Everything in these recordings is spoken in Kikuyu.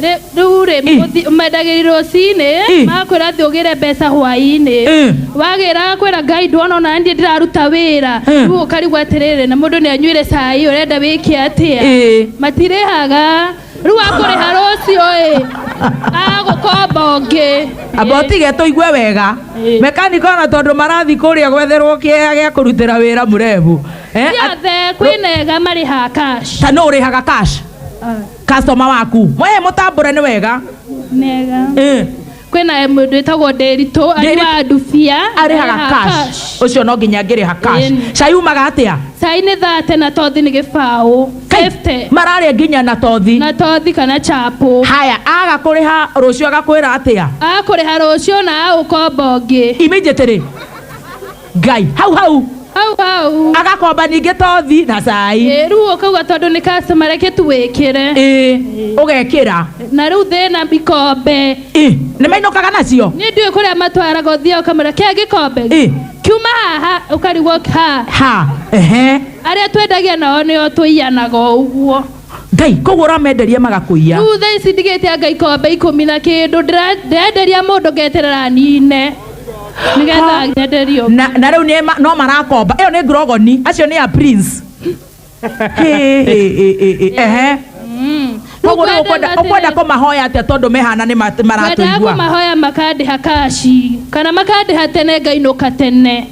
Rĩ- rĩu rĩ mũthi- mendagĩri rũcinĩ makwĩra atĩ ũgĩre mbeca hwainĩ wagĩra kwĩra ngai ndwona ona niĩ ndĩraruta wĩra rĩu ũkarigwo atĩrĩrĩ na mũndũ nĩ anyuire cai ũrenda wĩke atĩa matirĩhaga rĩu akũrĩha rũciũ ĩ agũkomba ũngĩ amba ũtige tũigue wega mekaniko ona tondũ marathi kũrĩa gwetherwo kĩea gĩa kũrutĩra wĩra mũrebu Eh, at- ciothe kwĩnega marĩhaga cash ta nũ ũrĩhaga cash customer waku mwaye mũtambũre nĩ wega mega Eh, kwä na må ndå wä tagwo ndäritå Ndĩritũ. anyuaga ndubia arĩhaga cash ũcio no nginya ngĩrĩha cash Ĩni. cayumaga atĩa cai nä thate na tothi nä gä baå Kai, mararĩa nginya na tothi na tothi kana chapå haya aga kũrĩha rũciũ agakwĩra atĩa akå rä ha rå cio na agå komba å ngä immediately ngai hau hau hau hau agakomba ningĩ tothi na cai Ĩ, rĩu ũkauga tondũ nĩ customer reke tu wĩkĩre ĩ ũgekĩra na rĩu thĩna ikombe ĩ nĩ mainũkaga nacio niĩ ndiũĩ kũrĩa matwaraga ũthiaga ũkamera kĩa gĩkombe ĩ kiuma haha ũkarigwo ha ha ehe arĩa twendagia nao nĩo tũiyanaga o ũguo ngai koguo ũramenderia magakũiya rĩu thaa ici ndigĩte anga ikombe ikũmi na kĩndũ ndĩra- ndĩrenderia mũndũ ngeterera nine nĩgetha nyenderio na na rĩu nĩ ma- no marakomba ĩyo nĩ ngurogoni acio nĩ a prince Hĩ, hĩ, hĩ, hĩ, hĩ, ehe Mm. Rĩu koguo rĩu kwenda ũkwenda- ũkwenda atĩrĩ- kũmahoya atĩa tondũ mehana nĩ ma- kwendaga maratũigua kũmahoya makandĩha kaci kana makandĩha tene ngainũka tene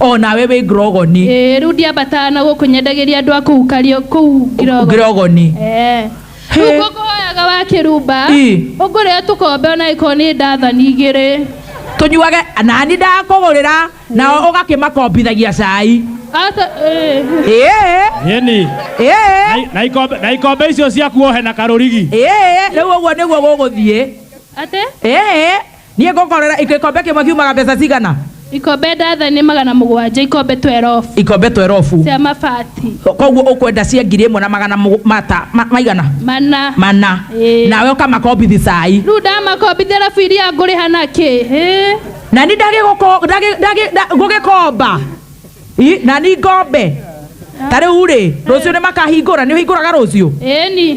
o nawe wĩ ngirogoni Ĩĩ, rĩu ndiambataga na gũkũ nyendagĩria andũ a kũu kario kũu Ngirogo. ngirogoni Ĩĩ. He. Rĩu ngũkũhoyaga wa kĩrumba Ĩ. ũngũrĩe tũkombe ona ĩkorwo nĩ ndathani igĩrĩ tũnyuage nani ndakũgũrĩra nao ũgakĩmakombithagia cai Ata- ĩĩ. ĩĩ Yeni. ĩĩ Na ikombe na ikombe icio ciaku ohe na karurigi. ĩĩ rĩu ũguo nĩguo gũgũthiĩ Atĩ? ĩĩ Niĩ ngũkorera ikombe kĩmwe kiumaga mbeca cigana? Ikombe ndathani magana mũgwanja, ikombe twerobu. Ikombe twerobu. Cia mabati. Koguo ũkwenda cia ngiri ĩmwe na magana mata maigana? Mana. Mana. Nawe ũkamakombithi cai. Rĩu ndamakombithi arabu iria ngũrĩha na kĩ? Na ni ngũgĩkomba. Na ni ngombe. Ta rĩu rĩ, rũciũ nĩ makahingũra, nĩ ũhingũraga rũciũ? Ĩni.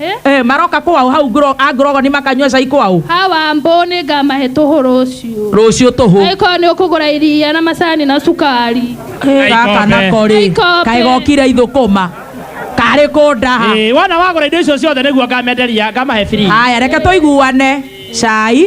Eh? Eh, maroka kwao hau ngro- a ngorogoni makanyua cai kwao hawa mbũ nĩ ngamahe tũhũ rũciũ rũciũ tũhũ angĩkorwo nĩ ũkũgũra iria na macani na cukari Eh, gaka Aikombe. nako rĩ Aikombe. kaĩ gokire ithũkũma karĩ kũndaha Eh, wona wagũra indo icio ciothe nĩguo ngamenderia ngamahe free haya reke tũiguane cai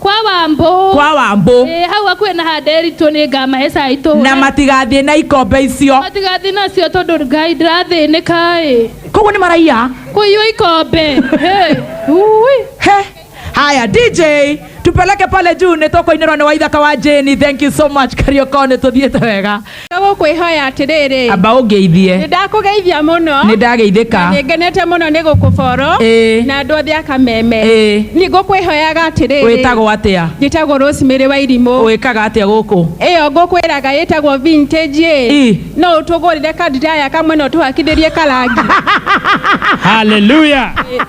kwa wambũ kwa wambũ Ĩĩ, hau hakuhĩ na ha nderitũ nĩ ngamahe cai tũhũre na matigathiĩ na ikombe icio matigathiĩ nacio tondũ ngai ndĩrathĩnĩka ĩ koguo nĩ maraiya kũiywo ikombe Hey, ui. He. haya dj tupeleke pale juu nĩ tũkũinĩrwo nĩ waithaka wa jeni thank you so much kariokone tũthiĩte wega Nĩgũkwĩhoya atĩrĩrĩ. Amba ũngeithie. Nĩndakũgeithia mũno. Nĩndageithĩka. Na nĩngenete mũno nĩ gũkũ Foro. Ĩ. Na andũ othe a Kameme. Ĩ. Nĩngũkwĩhoyaga atĩrĩrĩ. Wĩtagwo atĩa? Njĩtagwo Rosemary Wairimũ. Ũĩkaga atĩa gũkũ? Ĩyo ngũkwĩraga ĩtagwo vintage ĩ. Ii. No ũtũgũrĩre kadiraya kamwe na ũtũhakithĩrie karangi? Hallelujah.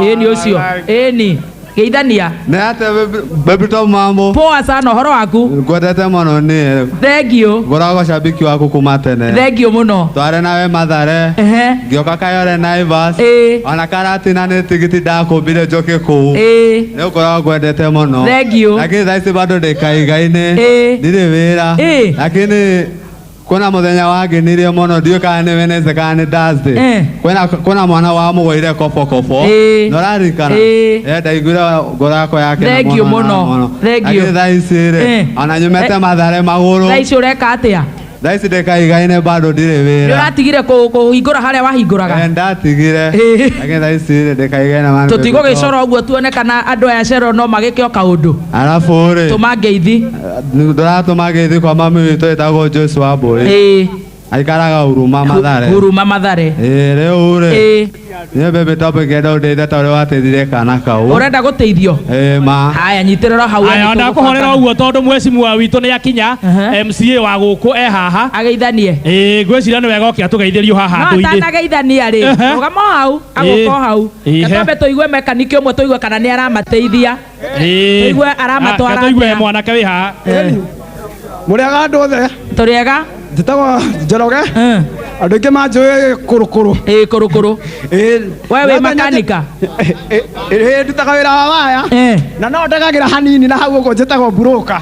ĩĩ nĩ ũcio ĩĩ nĩ geithania Nĩ atĩa Bebito mambo? poa sana ũhoro waku Ngwendete mũno niĩ. thengiũ Ngoragwo shabiki waku kuma tene. thengiũ mũno Tware nawe Mathare. ehe Ngĩoka Kayole Naivas. ĩĩ Ona Karatina nĩ tigiti ndakũmbire njoke kũu. ĩĩ Nĩ ngoragwo ngwendete mũno. Thengiũ. Lakini thaa ici bado ndĩ kaigai-inĩ. Ĩĩ. Ndirĩ wĩra. Ĩĩ. Lakini kwĩna mũthenya wangenirie mũno ndiũĩ kana nĩ Wednesday kana nĩ Thursday Eh. kwĩna kwĩna mwana wa mũgũire kobokobo Eh. na ũrarikana Eh. Eh, ndaiguire ngoro yakwa yake na Thengiũ mũno na mũno. Thengiũ. Lakini thaa ici Eh. rĩ ona nyumĩte Eh. mathare magũrũ thaa ici ũreka atĩa thaa ici ndĩkaigaine bado ndirĩ nĩ wĩra ũratigire kũ- kũhingũra harĩa wahingũraga Eh, ndatigire Eh. lakini thaa ici rĩ ndĩkaigaine maana tũtigũgĩcora ũguo tuone kana andũ aya cero no magĩke o kaũndũ arabu rĩ tũma ngeithi ndũratũma gĩthĩ kwa mami witũ ĩtagwo Joyce Wambũi ĩĩ aikaraga Huruma Mathare huruma mathare Ĩĩ, rĩu rĩ ĩĩ niĩ baby top ngenda ũndeithia ta ũrĩa wateithire kana kau ũrenda gũteithio Ĩĩ, ma haya nyitĩrĩra hau aya ona kũhorera ũguo tondũ mwecimua witũ nĩ akinya Aha. mca wa gũkũ e haha ageithanie ĩĩ ngwĩciria nĩ wega oke atũgeithĩrio haha no andũ-inĩ atanageithania rĩ Ehe. rũgama o hau agũka o hau Ĩĩ. na twambe tũigue mekanikĩ ũmwe tũigue kana nĩ aramateithia Ĩĩ. Tũigue aramatwara Reke tũigue atĩa? mwanake wĩ haha mũrĩaga andũ othe tũrĩega njĩtagwo njoroge andũ aingĩ manjũĩ kũrũkũrũ ĩĩ kũrũkũrũ we wĩ makanika ndutaga wĩra wa waya na no ndagagĩra hanini na hau ũguo njĩtagwo mburũka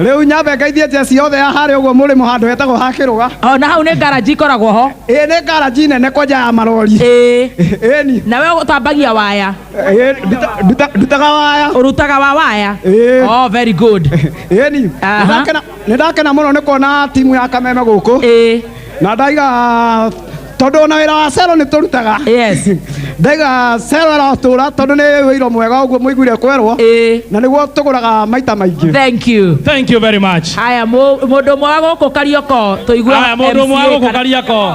rĩu nyambe ngaithie njeci yothe ya harĩa ũguo mũrĩmo handũ hetagwo ha kĩrũga na hau nĩ ngaraji ikoragwo ho ĩĩ nĩ ngaraji nene kwanja ya marori ĩĩ na we ũtambagia waya Eh, nduta- nduta- ndutaga waya urutaga wa waya Eh. oh very good ĩni Aha. nĩ ndakena mũno nĩ kuona timu ya kameme gũkũ eh na ndaiga tondũ ona wĩra wa cero nĩ tũrutaga yes ndaiga cero ĩratũra tondũ nĩ wĩiro mwega ũguo mũiguire kwerwo eh na nĩguo tũgũraga maita maingĩ thank you Thank you very much. haya mu- mundu mwa guku karioko tuigua Aya, mũndũ ũmwe wa gũkũ Kariakoo.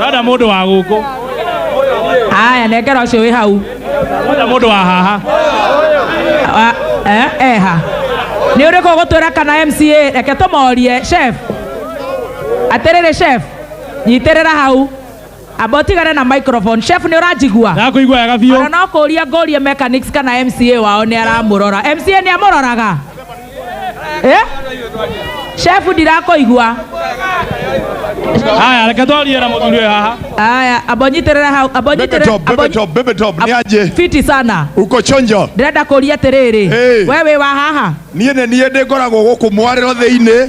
Rada mũndũ wa gũkũ. Aya nekera ũcio wĩ hau. Rada mũndũ wa haha. Ah, eh, Eha. Nĩ ũrĩkũ ũgũtwĩra kana MCA reke tũmorie chef. Atĩrĩrĩ chef. Nyitĩrĩra hau. Amba ũtigane na microphone. Chef nĩ ũranjigua? Ndakũigua wega biũ. Ona no kũria ngorie mechanics kana MCA wao nĩ aramũrora. MCA nĩ amũroraga? Eh? shefu ndirakoigua haya reke twarie na mũthuri ũyũ haha aya ambonyitirira hau Bebe ambonyitirira top, bebe top, bebe top, ni aje? fiti sana Uko chonjo? ndĩrenda kũria atĩrĩrĩ Hey. we wĩ wa haha Niĩ nĩ niĩ ndĩngoragwo gũkũ mwarĩro thĩinĩ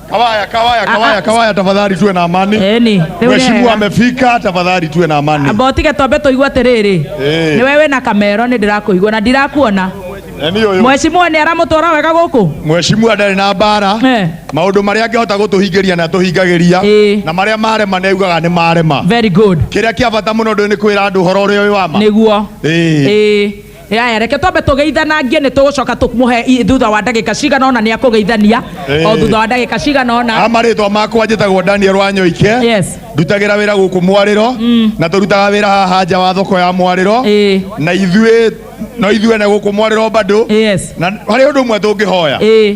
Kawaya, kawaya, kawaya, kawaya, tafadhali tuwe na amani. Eni, rĩu Mheshimiwa wega. amefika, tafadhali tuwe na amani. amba ũtige tombe tũigua atĩrĩrĩ Eh. nĩ wewe na kamero nĩ ndĩrakũigua na ndirakuona Nani huyo? mwecimua nĩ aramũtwara wega gũkũ Mheshimiwa ndarĩ na mbara Eh. maũndũ marĩa angĩhota gũtũhingĩria na tũhingagĩria Eh. na marĩa marema neugaga nĩ marema very good kĩrĩa kĩa bata mũno ndũĩ nĩ kwĩra andũ ũhoro ũrĩa ũyũ wama nĩguo Eh. Ĩĩ. yaya reke twambe tũgeithanangie nĩ tũgũcoka tũmũhe i- thutha wa ndagĩka cigana ona nĩ akũgeithania Eh. o thutha wa ndagĩka cigana ona amarĩtwa makwa njĩtagwo daniel wanyoike Yes. ndutagĩra wĩra gũkũ mwarĩro na tũrutaga wĩra haha nja wa thoko ya mwarĩro Eh. na ithuĩ no ithuĩ na gũkũ mwarĩro bado Yes. na harĩ ũndũ ũmwe tũngĩhoya Eh,